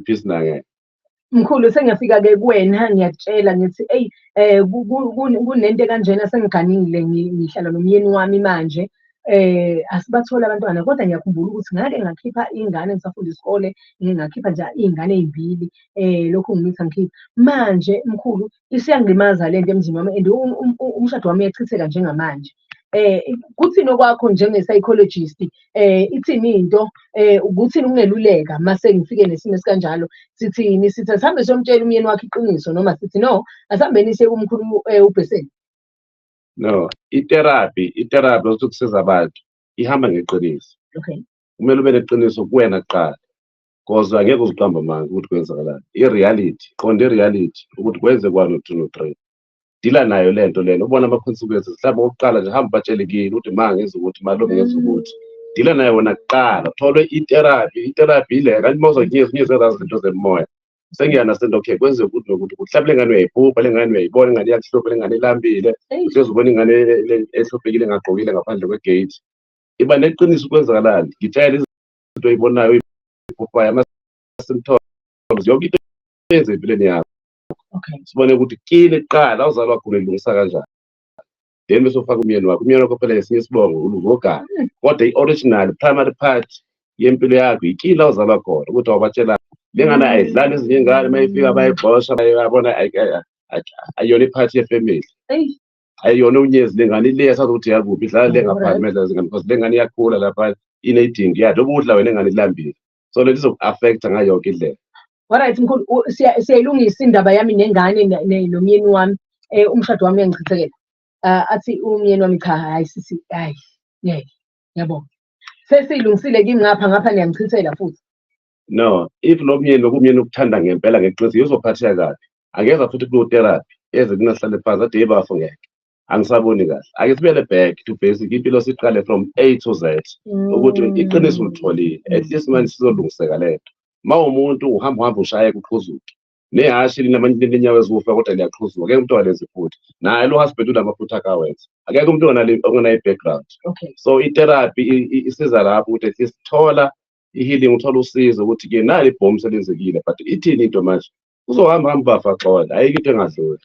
peace nake mkhulu sengiyafika ke kuwena ngiyakutshela ngithi eyi eh kunento kanjena sengiganile ngihlala nomyeni wami manje eh asibathole abantwana kodwa ngiyakhumbula ukuthi ngake ngakhipha ingane ngisafunda isikole ngakhipha nje iy'ngane ey'mbili eh lokhu ngimitha ngikhipha manje mkhulu isiyangimaza le nto emzini wami and umshado wami uyachitheka njengamanje um kuthini okwakho njenge-psychologist um ithini into um kuthini ukungeluleka uma sengifike nesimo esikanjalo sithini sithi asihambe siyomtshela umyeni wakho iqiniso noma sithi no asihambeni siye kumkhulu um ubheseni no iterapi iterapi lokuthi kusiza abantu ihamba ngeqiniso okay kumele ube neqiniso kuwena kuqala because angeke uziqamba amanga ukuthi kwenzakalani i-reality qonda i-reality ukuthi kwenze kwani u-two no-three dila nayo le nto lena ubona ama-consequences mhlawumbe okokuqala nje hambe batshele kini ukuthi ma ngenza ukuthi malume ngenza ukuthi dila nayo wena kuqala tholwe iterapi iterapi ile kanti uma uzokunyeza unyeza ezazi zinto zemoya sengiyanasento okay kwenzeka ukuthi nokuthi ukuthi mhlawumbe le ngane uyayiphupha le ngane uyayibona ingane iyakuhlupha le ngane ilambile uhlezi ubona ingane e- e- ehluphekile engagqokile ngaphandle kwegate iba neqiniso kwenzakalani ngitshela into oyibonayo ibhubhayo ama-symptoms yonke into eyenza empilweni yakho okay sibone ukuthi kile kuqala awuzalwa wakhula ilungisa kanjani then bese ufaka umyeni wakho umyeni wakho phela yesinye isibongo uluvogana hmm. kodwa i-original primary part yempilo yakho yikile awuzalwa khona ukuthi awubatshela le ngane hmm. ayidlali ezinye ingane uma ifika bayigxosha bayabona ayiyona iphathi yefemeli ayiyona unyezi lengane ile yasazi ukuthi yakuphi idlala le ngaphandle medlala zingane because lengane iyakhula lapha inedingi yathi ukudla wena ingane ilambile so lento izoku-affecta ngayo yonke indlela Alright mkhulu u- siya- siyayilungisa indaba yami nengane ne- ne- nomyeni wami eh umshado wami uyangichithekela Ah, athi umyeni wami cha hayi sisi hayi ngeke yabo sesiyilungisile kimi ngapha ngapha niyangichithela futhi no if lo myeni lokumyeni ukuthanda ngempela ngeqiniso yozophatheka kabi angeza futhi kuno-therapy eze kunahlale phansi ade yebafo ngeke angisaboni kahle ake sibele back to basic impilo siqale from a to z ukuthi mm. iqiniso ulitholile at least manje sizolungiseka le nto ma umuntu uhamba uhamba ushaye kuqhuzuke nehhashi linenyawo eziwufa kodwa liyaqhuzuka akekho umntwana lenzi futhi naye lo husband unamaphutha akawenza akekho umntwana ongenayo i-background so i-therapy isiza lapho ukuthi at least thola i-healing uthole usizo ukuthi ke nali ibhomu selenzekile but ithini into manje uzohamba hamba bafa xola ayike into engadluli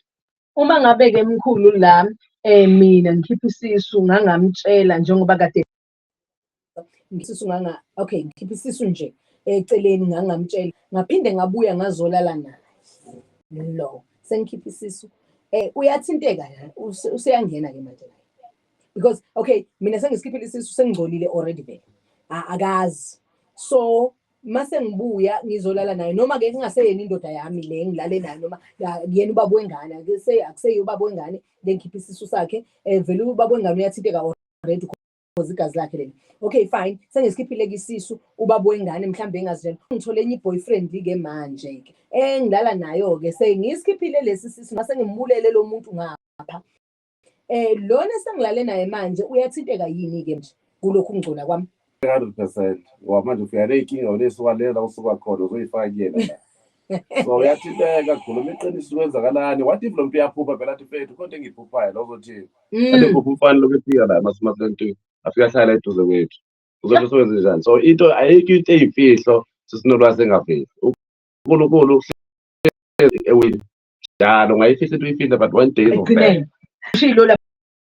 uma ngabe-ke mkhulu la um mina ngikhipha isisu ngangamtshela njengoba kade isisu nganga okay ngikhipha isisu nje eceleni ngangamtshela ngaphinde ngabuya ngazolala naye lo sengikhipha isisu um uyathinteka useyangena-ke manje because okay mina sengisikhiphile isisu sengingcolile already vele akazi so mase ngibuya ngizolala naye noma ke kungaseyena indoda yami le ngilale nayo noma kuyena ubaba wengane akuse akuseyo ubaba wengane lengikhipha isisu sakhe eh vele ubaba wengane uyathinteka already because igazi lakhe leli okay fine sengisikhiphile kisisu ubaba wengane mhlambe engazitshela ngithole enye boyfriend ke manje ke engilala nayo ke sengisikhiphile lesi sisu mase ngimbulele lo muntu ngapha Eh lona sengilale naye manje uyathinteka yini ke nje kulokhu kungcola kwami? 100% ngoba manje ufika ney'nkinga unesukalela usuka khona uzoyifaka kuyena la so uyathinteka khuluma iqiniso kwenzakalani what if lo mntu uyaphupha phela athi fethu khonto engiyiphuphayo lo uzothini Mm. abephupha umfana lokhu efika la emasuma plentwini afike ahlala eduze kwethu uzobe usewenze njani so into ayikho into eyimfihlo sisinolwazi engaveli unkulunkulu uhlezi ewini njalo ngayifisa into uyifile but one day izovela. Shilo la